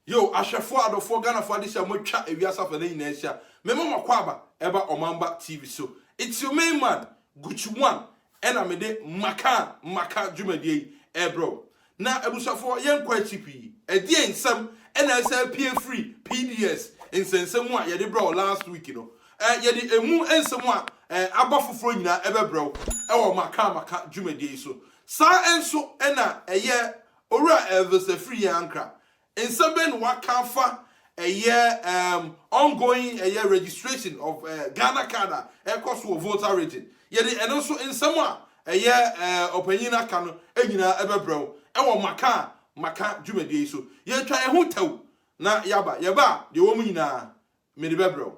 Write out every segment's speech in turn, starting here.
Yo, ahwɛfoɔ, adɔfoɔ, Ghanafoɔ adesua a moatwa ewiase afa no nyinaa ahyia. Mema mo akwaaba ɛba Ɔmanba TV so. It's your main man, Gucci One, ɛna mede Maka Maka dwumadie yi ɛrebrɛ wo. Na abusuafoɔ yɛnkɔ akyi pii, ɛdeɛn nsɛm na ɛsɛ apue firi PDS nsɛnsɛm mu a yɛde brɛ wo last week no? Ɛɛ yɛde ɛmu nsɛm a ɛɛ aba foforɔ nyinaa ɛbɛbrɛ wo ɛwɔ Maka Maka dwumadie yi so. Saa nso na ɛyɛ Owura Elvis Afiri Ankrah Nsɛm bɛn na wɔaka afa ɛyɛ um ongoing ɛyɛ registration of uh, Ghana card a ɛkɔ so wɔ Volta region? Yɛde ɛno nso nsɛm a ɛyɛ uh, ɔpanyin no aka no nyinaa ɛbɛbrɛ wo ɛwɔ maka a maka dwumadie yi so. Yɛntwa yɛn ho tɛw na yɛaba. Yɛba a deɛ ɛwɔ mu nyinaa mede bɛbrɛ wo.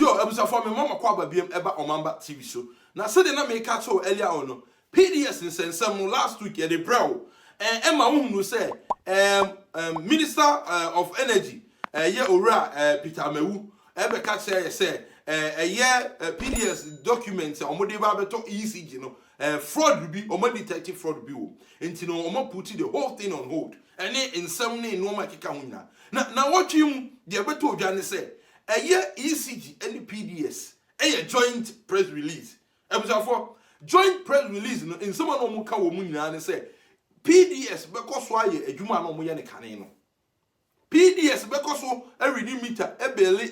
Yo, abusuafoɔ me mma makɔ aba biam ɛba Ɔmanba TV so. Na sɛdeɛ na meka akyerɛ wo earlier on no, PDS nsɛnsɛm no last week yɛde brɛɛ wo ɛn ɛma wo hunuu sɛ ɛɛm ɛɛm Minister ɛɛm of Energy ɛyɛ Owura ɛɛm Peter Amawu ɛbɛka kyerɛɛ yɛ sɛ ɛɛm ɛyɛ ɛɛm PDS document a wɔde reba abɛtɔ ECG no Eh fraud no bi, ɔmo a detect fraud bi wom, nti no ɔmo a put the whole thing on hold, ɛne nsɛm ne nnoɔma a ɛkeka ho nyinaa. Na naawɔtwe yi mu, deɛ ɛbɛtɔ dwa ne sɛ, ɛyɛ ECG ɛne PDS, ɛyɛ joint press release. Abusuafoɔ, joint press release no, nsɛm a na ɔmo ka wɔ mu nyinaa ne sɛ, PDS bɛkɔ so ayɛ adwuma a na ɔmo yɛ no kane no. PDS bɛkɔ so redi mita bele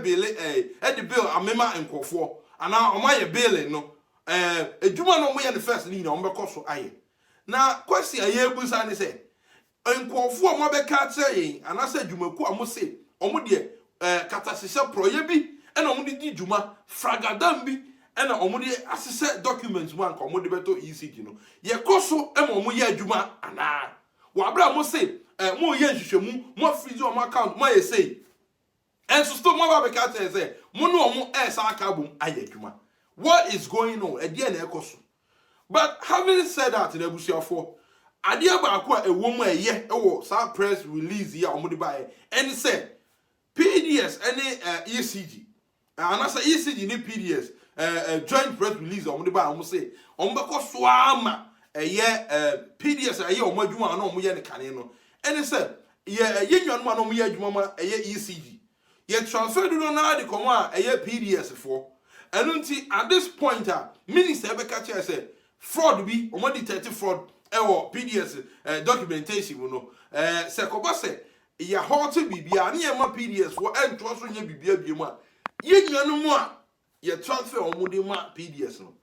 bele eh, de bill amema nkurɔfoɔ anaa wɔn ayɛ bele no eh, adwuma no wɔn yɛ no first no nyina wɔn bɛkɔ so ayɛ. Na question a yɛbusa ne sɛ, nkurɔfoɔ a wɔn abɛka akyerɛ yɛn anaasɛ adwumakuo a wɔn se wɔn deɛ eh, katahyehyɛ prɔyɛ bi na wɔn de di dwuma, fragadam bi na wɔn de ahyehyɛ documents mu a nka wɔn de bɛtɔ ECG no, yɛkɔ so ma wɔn yɛ adwuma anaa? Wɔ abere a mo se eh mo reyɛ nhwehwɛmu, mo afrizi wɔn account, mo ayɛ sei. Ɛnso still mo aba abɛka akyerɛ yɛn sɛ mo ne wɔn ɛresan aka abom ayɛ adwuma. What is going on? Ɛdeɛn na ɛrekɔ so? But having said that no abusuafoɔ, adeɛ baako a ɛwɔ mu a ɛyɛ wɔ saa press release yi a wɔde baeɛ ɛne sɛ, PDS ɛne eh ECG, Eh, anasa ECG ne PDS eh, eh, joint press release a wɔde baa wɔn se wɔn bɛkɔ so ara ma ɛyɛ eh, PDS a ɛyɛ wɔn adwuma a na wɔn yɛ ne kane no ɛne sɛ yɛ eh, yɛ nnuanom a na wɔn yɛ adwuma ma ɛyɛ ECG yɛ transfer dodo no ara de kɔm a ɛyɛ PDS foɔ ɛno nti at this point a minister ɛbɛka kyerɛ sɛ fraud bi wɔn detect fraud ɛwɔ PDS eh, documentation mu no eh, sɛ kɔba sɛ Yɛ hɔ sɛ biribiara ne yɛmma PDS hɔ ntoa so nyɛ biribiara biom a, yɛn nuanom a yɛ transfer a wɔde ma PDS no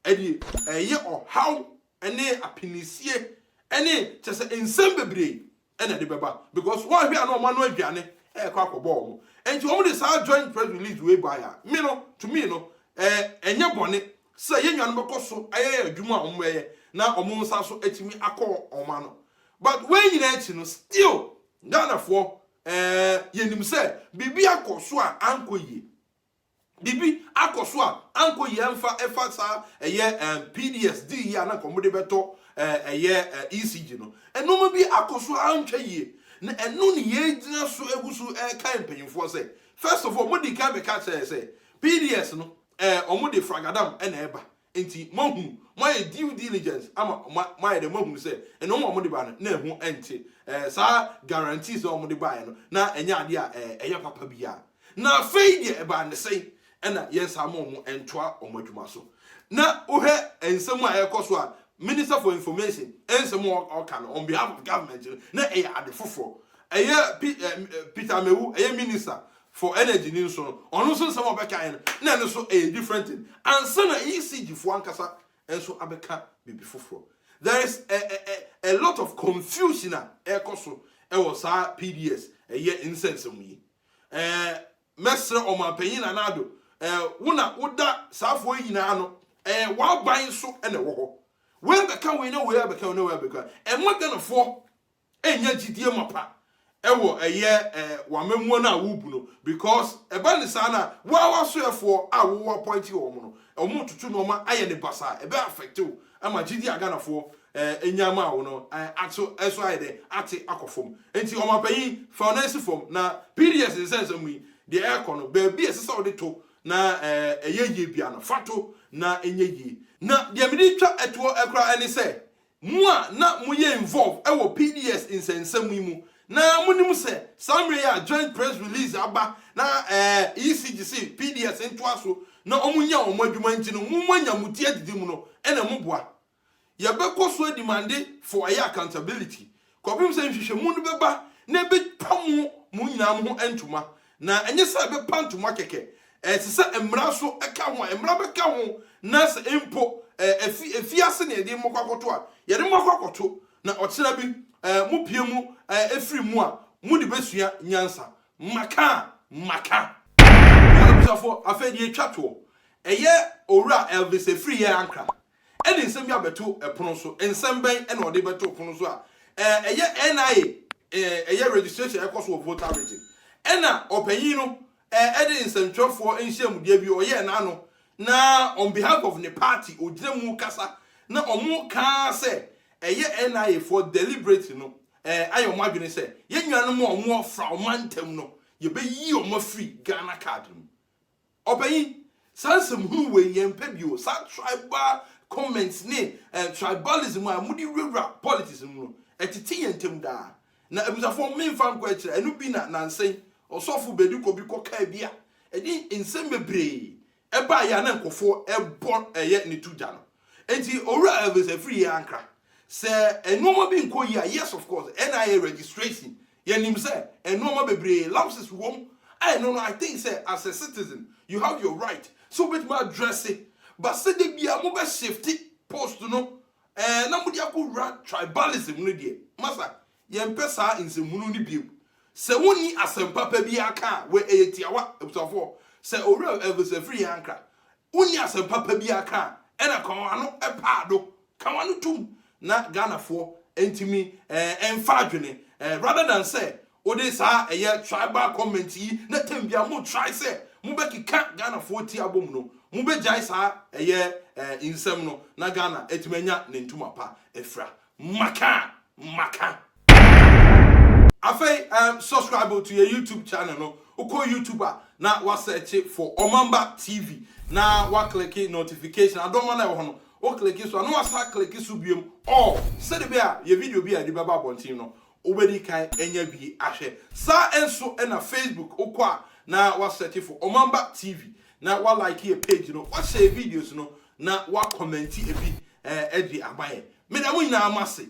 deɛ ɛyɛ ɔhaw ne apinisie ne kyerɛ sɛ nsɛm bebree na ɛde bɛba because wɔanhwɛ a na wɔn ano aduane ɛrekɔ akɔbɔ wɔn nti wɔn de saa joint press release wei baeɛ a me no to me no ɛnyɛ bɔne sɛ yɛn nuanom bɛkɔ so ayɛ adwuma a wɔn ɛyɛ na wɔn nsa so atumi akɔ wɔn ano But wei nyinaa akyi no still Ghanafoɔ eh, yɛnim sɛ biribi akɔ so a ankɔ yie. Biribi akɔ so a ankɔ yie ɛmfa ɛfa saa ɛyɛ eh, PDS dii yie a na nka wɔde bɛtɔ eh, ɛyɛ eh, ECG no. Nneɛma bi akɔ so a antwa yie. Na ɛno ne yɛgyina so agu so ɛrekae mpanyinfoɔ sɛ first of all wɔdii kan bɛka kyerɛɛ yɛ sɛ PDS no eh, wɔde fragadam na ɛba. Enti moahunu, moayɛ due diligence ama moayɛ dɛn? Moahunu sɛ ɛno a wɔde bae no, na ɛho nte. Ɛɛ, saa guarantees a wɔde baeɛ no, na ɛnyɛ adeɛ a ɛyɛ papa biara. Na afei deɛ ɛbaa no sɛn? Ɛnna yɛnsan ma wɔn ntoa wɔn adwuma so. Na wohwɛ nsɛm a ɛrekɔ so a, Minister for Information nsɛm a ɔka no on behalf of government no, na ɛyɛ ade foforɔ. Ɛyɛ Pe ɛɛ Peter Amewu, ɛyɛ Minister, for energy ne nso no ɔno nso nsɛm a ɔbɛkaeɛ no na ɛno nso ɛyɛ different thing ansa na ECG foɔ ankasa nso abɛka biribi foforɔ there is a, a, a, a lot of confusion a ɛrekɔ so ɛwɔ saa PDS ɛyɛ nsɛnsɛm yi ɛɛ mɛsrɛ ɔmanpanyin na n'ado ɛɛ wo na woda saafoɔ nyinaa no ɛɛ w'aban so ɛna ɛwɔ hɔ wei bɛka wei na wei abɛka wei na wei abɛka ɛma ghanafoɔ Ɛnya gyidie mapa wɔ ɛyɛ w'amammuo no a worebu no because ɛba no saa no a wo ara w'asoɛfoɔ a wo appointe wɔn no wɔn retoto nnoɔma ayɛ no basaa ɛbɛ affect wo ama gyidie a Ghanafoɔ nyaa maa wo no aso ɛso ayɛ dɛn ate akɔ fam nti Ɔmanpanyin fa wo nan si fam na PDS nsɛnsɛm yi deɛ ɛrekɔ no baabi a ɛsɛ sɛ wode to na ɛyɛ yie biara no fa to na ɛnyɛ yie na deɛ mede retwa toɔ koraa ne sɛ Mo a na moyɛ involve wɔ PDS nsɛnsɛm yi mu na monim sɛ saa mmerɛ yi a joint press release aba na ECG se PDS ntoa so na ɔmo nyɛ ɔmo adwuma nti no mo moanya mo ti adidi mu no ɛna moboa. Yɛbɛkɔ so adi mande for ɛyɛ accountability Kɔpem sɛ nhwehwɛmu no bɛba na ɛbɛtwa mo mo nyinaa mo ho ntoma, na ɛnyɛ sɛ ɛbɛpa ntoma kɛkɛ. Ɛte sɛ mmara so ka ho a, mmara bɛka ho, na sɛ mpo afi afiase na yɛde mo kɔ akɔto a, yɛde mo akɔ akɔto, na ɔkyena bi mopue mu firi mu a, mode bɛsua nyansa. Maka! Maka! Nnuanom Abusuafoɔ, afei deɛ ɛtwa toɔ. Ɛyɛ Owura Elvis Afriyie Ankrah Ɛde nsɛm bi abɛto pono so. Nsɛm bɛn na ɔde bɛtoo pono so a ɛyɛ NIA ɛyɛ registration a ɛkɔ so wɔ Volta Region? Ɛna ɔpanyin no ɛde nsɛntwerɛfoɔ nhyiamudie bi ɔyɛɛ n'ano na on behalf of ne party ɔgyina mu kasa na wɔka sɛ ɛyɛ NIA foɔ deliberately no ayɛ wɔn adwene sɛ yɛn nuanom a wɔafra wɔn mantam no yɛbɛyi wɔn afiri Ghana card no mu. Ɔpanyin, saa nsɛm hunu wei yɛn mpɛ bio, saa tribal comments ne tribalism a mode wurawura politics mu no, ɛtete yɛn ntam daa. Na abusuafoɔ menfa nkɔ akyire, ɛno bi na nansen ɔsɔfo bedi kɔ bi kɔ kaa bi a ɛde nsɛm bebree ɛbaeɛ a na nkurɔfoɔ ɛbɔ ɛyɛ ne to gya no. Enti Owura Elvis Afriyie ankra, sɛ nnoɔma bi nkɔ yie a, yes of course, ɛna ayɛ registration Yɛnim sɛ nnoɔma bebree lapses wɔ mu a ɛno no I think sɛ as a citizen you have your right sɛ wobɛtumi a addresse but sɛ da biara mo bɛ shifte post no ɛɛ na mode akɔ wura tribalism no deɛ masa yɛmpɛ saa nsɛmhunu no bio sɛ wonni asɛm papa biara ka a wɛ ɛyɛ tiawa abusuafoɔ sɛ Owura Elvis Afriyie Ankrah wonni asɛm papa biara ka a ɛna kɔn ano ɛpaado Ka w'ano tom na Ghanafoɔ ntumi mfa adwene rather than sɛ wode saa ɛyɛ tribal comment yi na tam biara mo try sɛ mo bɛ keka Ghanafoɔ ti abom no mo bɛ gyae saa ɛyɛ nsɛm no na Ghana atumi anya ne ntoma pa afira. Maka! Maka! Afei um subscribe to yɛ YouTube channel no, wokɔ YouTube a na wa search for Ɔmamba TV na wa click notification adɔma no a ɛwɔ hɔ no, wo click so a na wa san click so biom all sɛde bɛyɛ a yɛ video bi a yɛde bɛba abɔnten no wobɛdi kan anya bi ahwɛ. Saa nso na Facebook, wokɔ a na wa search for Ɔmamba TV na wa like yɛ page no, wa share yɛ videos no na wa comment bi um de ama yɛn. Meda mo nyinaa mo ase.